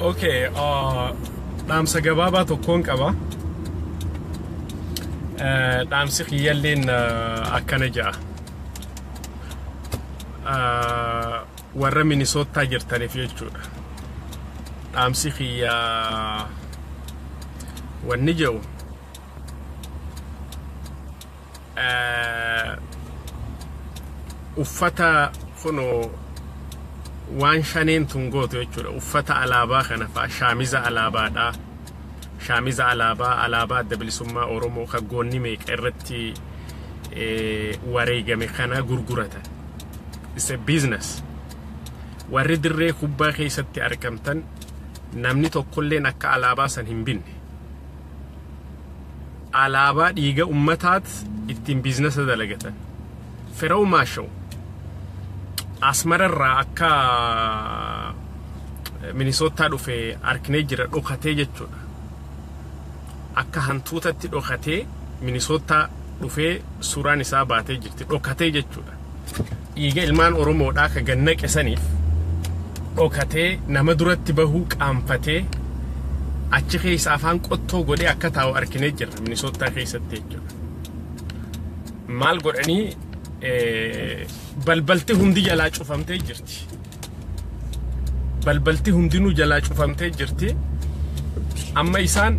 Okay, uh, dhaamsa gabaabaa tokkoon qaba. Eh, Dhaamsi kiyyalleen eh, akkana ja'a. Eh, Warra Minisootaa jirtaniif jechuudha. Dhaamsi kiyya wanni jedhu uffata kunoo waan shaneen tun gootu jechuudha uffata alaabaa kana fa'a shaamiza alaabaadha shaamiza alaabaa alaabaa adda bilisummaa oromoo kan goonni meeqa irratti wareegame kana gurguratan is a business warri dirree kubbaa keessatti argamtan namni tokkolleen akka alaabaa san hin binne Alaabaa dhiiga ummataat ittiin biiznasa dalagatan. Firaumaa show. Asmara irraa akka Minisoottaa dhufe arknee jira dhokatee jechuudha. Akka hantuutatti dhokatee Minisoottaa dhufee suuraan isaa baatee jirti dhokatee jechuudha. Dhiiga ilmaan Oromoodhaa ka gad naqe saniif dhokatee nama duratti bahuu qaanfatee achi keessa afaan qottoo godhee akka taa'u arkinee jirra Minisoottaa keessatti jechuudha. Maal godhanii balbalti hundi jalaa cufamtee jirti. Balbalti hundinuu jalaa cufamtee jirti. Amma isaan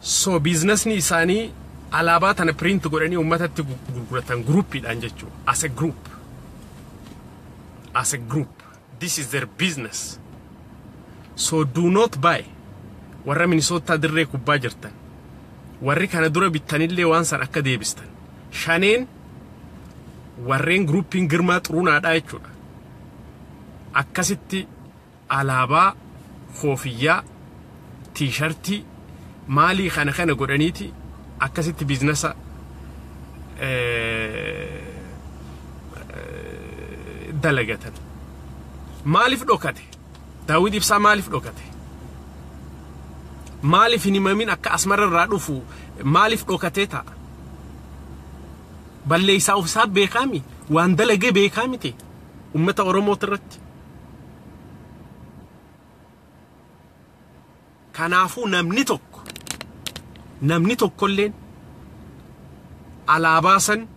So biiznasni isaanii alaabaa tana print godhanii ummatatti gurguratan groupiidhaan jechuu as a group as a group this is their business so do not buy warra minisootaa dirree kubbaa jirtan warri kana dura bittanillee waan san akka deebistan shaneen warreen groupiin girmaa xurunaadhaa jechuudha akkasitti Alaabaa, koofiyyaa, tiishartii, maalii kana kana godhaniiti akkasitti biiznasa dalagatan. Maaliif dhokate? Daawwit Ibsaa maaliif dhokate? Maaliif hin himamin akka asmara irraa dhufu maaliif dhokatee ta'a? Balleessaa ofisaa beekaa mi? Waan dalagee beekaa miti? Uummata Oromoo irratti. Kanaafuu namni tokko namni tokkolleen alaabaa san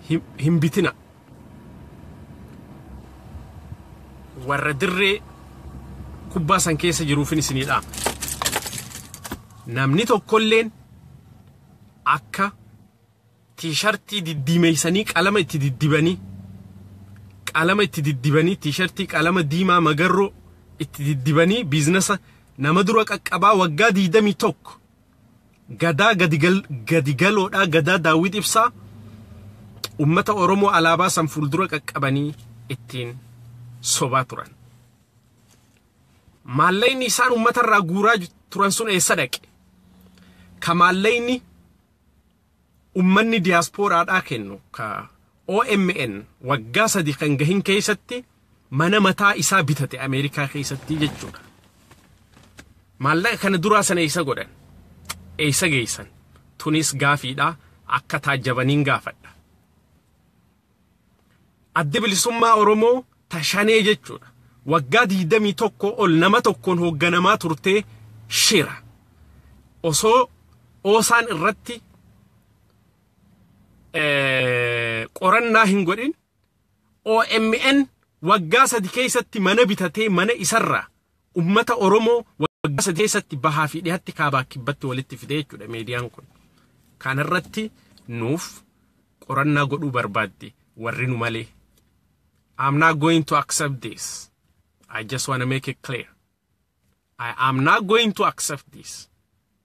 hin, hin bitina. Warra dirree kubbaa san keessa jiruufin isinii dhaama. Namni tokkolleen akka Tiishartii diddiimeessanii qalama itti diddibanii qalama itti diddibanii tiishartii qalama diimaa magarroo itti diddibanii biiznasa nama dura qaqqabaa waggaa 21 gadaa gadi galoodhaa gadaa daawwit ibsaa ummata oromoo alaabaa san fuuldura qaqqabanii ittiin sobaa turan. Maallayni isaan ummatarraa guuraa turan sun eessa dhaqe? Ka maallayni ummanni diyaaspooraadhaa kennu ka OMN waggaa sadi kan gahin keessatti mana mataa isaa bitate Ameerikaa keessatti jechuudha. Maallaqa kana duraa sana eessa godhan? Eessa geessan? Tunis gaafiidha akka taajjabaniin gaafadha. Addi Bilisummaa Oromoo ta Shanee jechuudha. Waggaa 21 ol nama tokkoon hoogganamaa turtee shira. Osoo oosaan irratti qorannaa hin godhin OMN waggaa sadi keessatti mana bitatee mana isarraa Ummata Oromoo waggaa sadii keessatti bahaa fi dhihatti kaabaa kibbatti walitti fidee jechuudha meediyaan kun. Kana irratti nuuf qorannaa godhuu barbaadde warri nu malee. I'm not going to accept this. I just want to make it clear. I am not going to accept this.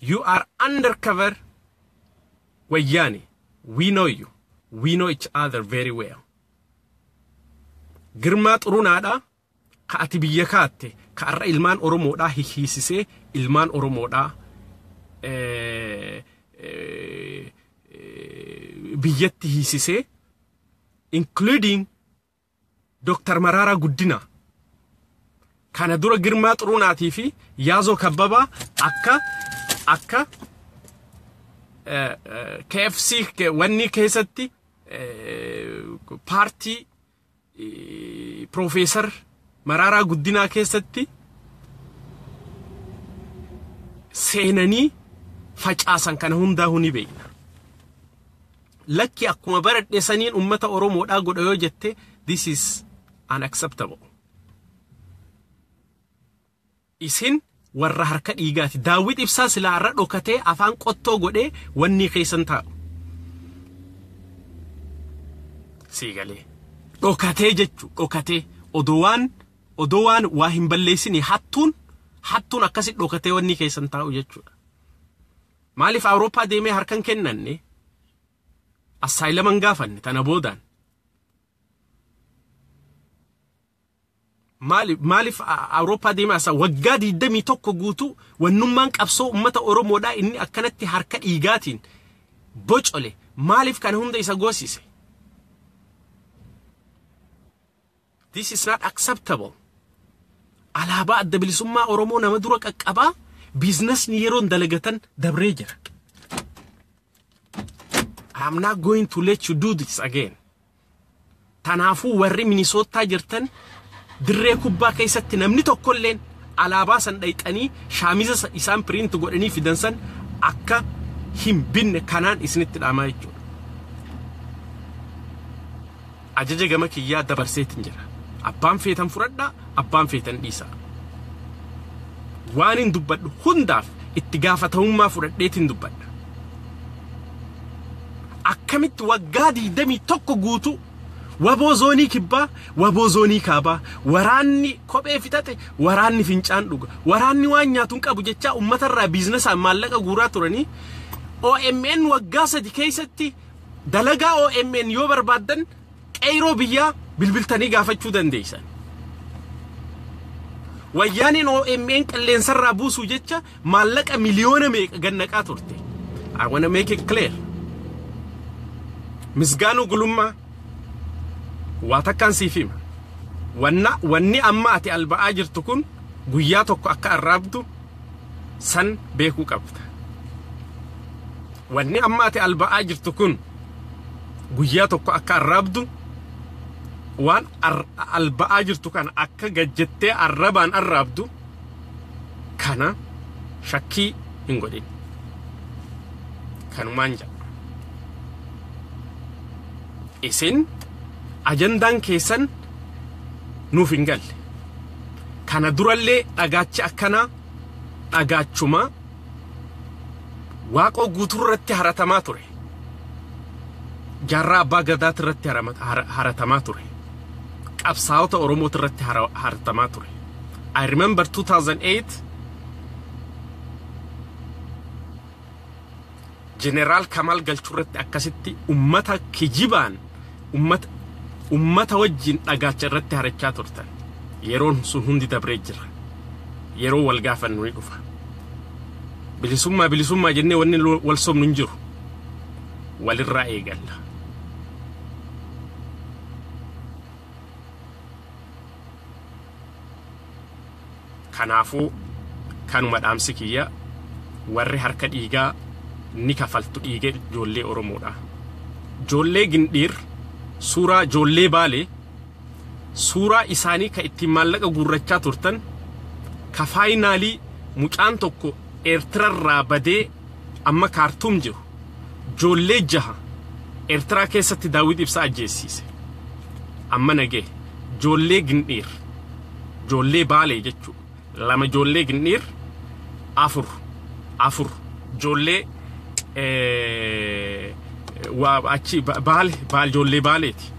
You are under cover wayyaane. We know you. We know each other very well. Girmaa xurunaadha ka ati biyya kaatte ka arra ilmaan Oromoodhaa hihiisisee ilmaan Oromoodhaa eh, eh, eh, biyyatti hiisisee including Dr. Maraaraa Guddinaa kana dura Girmaa Xuruunaatii fi Yaazoo Kabbabaa akka akka KFC wanni keessatti paartii Piroofeesar Maraaraa Guddinaa keessatti seenanii facaasan kana hundaa'uu ni beekna. lakki akkuma baradhe saniin ummata Oromoodhaa godha yoo jette this is unacceptable. Isin warra harka dhiigaati. Daawwit ibsaa silaa har'a dhokatee afaan qottoo godhee wannii keessan taa'u. Sii galee. Dhokatee jechu dhokatee odoo waan odoo waan waa hin balleessine hattuun hattuun akkasi dhokatee wannii keessan taa'u jechuudha. Maaliif Awurooppaa deemee harkan kennanne assaayilama hin gaafanne tana boodaan. Maaliif maaliif Awurooppaa deemee asa waggaa 21 guutuu wannummaan qabsoo uummata Oromoodhaa inni akkanatti harka dhiigaatiin bocole maaliif kana hunda isa goosise? This is not acceptable. Alaabaa adda bilisummaa Oromoo nama dura qaqqabaa biiznasni yeroon dalagatan dabree jira. I am not going to let you do this again. Tanaafuu warri Minisootaa jirtan dirree kubbaa keessatti namni tokkolleen alaabaa san dhayxanii shaamiza sa- isaan piriint godhanii fidan san akka hin binne kanaan isinitti dhaamaa jechuudha. Ajaja gama kiyyaa dabarseetin jira. Abbaan feetan fudhadha, abbaan feetan dhiisa. Waanin dubbadhu hundaaf itti gaafatamummaa fudhadheetin dubbadha. Akkamitti waggaa 21 guutuu waboo zoonii kibbaa, waboo zoonii kaabaa, waraanni kophee fixate, waraanni fincaan dhuga, waraanni waan nyaatu hin qabu jechaa uummatarraa biiznasaan maallaqa guuraa turanii OMN waggaa sadi keessatti Dalagaa omn yoo barbaaddan qeyroo biyyaa bilbiltanii gaafachuu dandeessan. Wayyaaneen omn qilleensarraa buusuu jecha maallaqa miliyoona meeqa gannaqaa turte. I wanna make it clear. Misgaanuu gulummaa waa takkaan siif hima. Wanna wanni amma ati alba'aa jirtu kun guyyaa tokko akka arraabdu san beekuu qabda. Wanni amma ati alba'aa jirtu kun guyyaa tokko akka arraabdu waan alba'aa jirtu kana akka gajjettee arrabaan arraabdu kana shakkii hin godhin. Kanumaan jedha. Isin ajandaan keessan nuuf hin galle. Kana durallee dhagaachi akkanaa dhagaachuma waaqoo guutuu irratti haratamaa ture. Jaarraa abbaa gadaati irratti haratamaa ture. Qabsaa'ota Oromooti irratti haratamaa ture. I remember 2008 Jeneraal Kamaal Galchuu irratti akkasitti ummata kijibaan ummata ummata wajjin dhagaacha irratti harachaa turtan. Yeroon sun hundi dabree jira. Yeroo wal gaafannu ni dhufa. Bilisummaa bilisummaa jennee wanni lo- wal sobnu hin jiru. Walirraa eegalla. Kanaafuu kanuma dhaamsi kiyya warri harka dhiigaa ni kafaltu dhiiga ijoollee Oromoodha. Ijoollee Gindhiir suuraa ijoollee Baalee suuraa isaanii ka ittiin maallaqa guurrachaa turtan ka faayinaalii mucaan tokko Eertirarraa badee amma Kaartuum jiru joollee jaha Eertiraa keessatti Daawwit Ibsaa ajjeessiise. Amma nagee joollee Gindhiir joollee Baalee jechuu lama joollee Gindhiir afur afur joollee achi Baale baal joollee Baaleeti.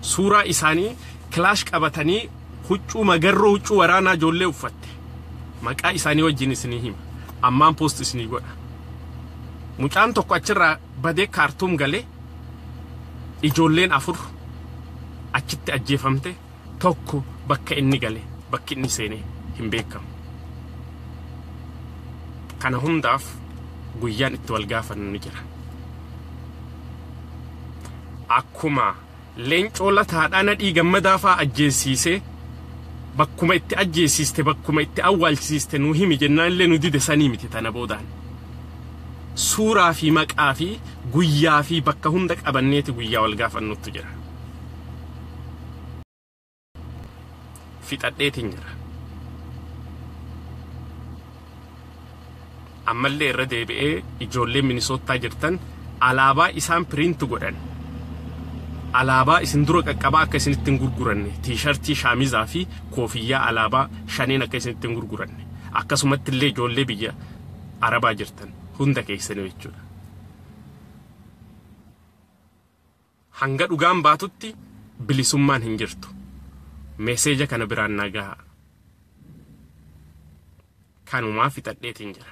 Suuraa isaanii kilaash qabatanii Huccuu magarroo huccuu waraanaa ijoollee uffatte maqaa isaanii wajjin isinii hima ammaan post isinii godha mucaan tokko achirraa badee kaartuum galee ijoolleen afur achitti ajjeefamte tokko bakka inni gale bakki inni seene hin beekamu kana hundaaf guyyaan itti wal gaafannu ni jira akkuma Leencoo Lataadhaa Nadhii Gammadaa faa ajjeessiisee bakkuma itti ajjeessiiste bakkuma itti awwaalchisiiste nuu himi jennaan illee nu dide sanii miti tana boodaan suuraa fi maqaa fi guyyaa fi bakka hunda qabanneeti guyyaa wal gaafannuttu jira. fixadheetiin jira. Ammallee irra deebi'ee ijoollee Minisoottaa jirtan alaabaa isaan piriinti godhan alaabaa isin dura qaqqabaa akka isinitti hin gurguranne tiishartii shaamizaa fi koofiyyaa alaabaa shaneen akka isinitti hin gurguranne akkasumatti illee ijoollee biyya arabaa jirtan hunda keessanii jechuudha. Hanga dhugaan baatutti bilisummaan hin jirtu. Message kana biraan naa gahaa. Kanumaa fixadheetiin jira.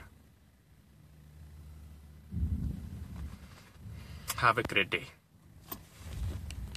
Have a great day.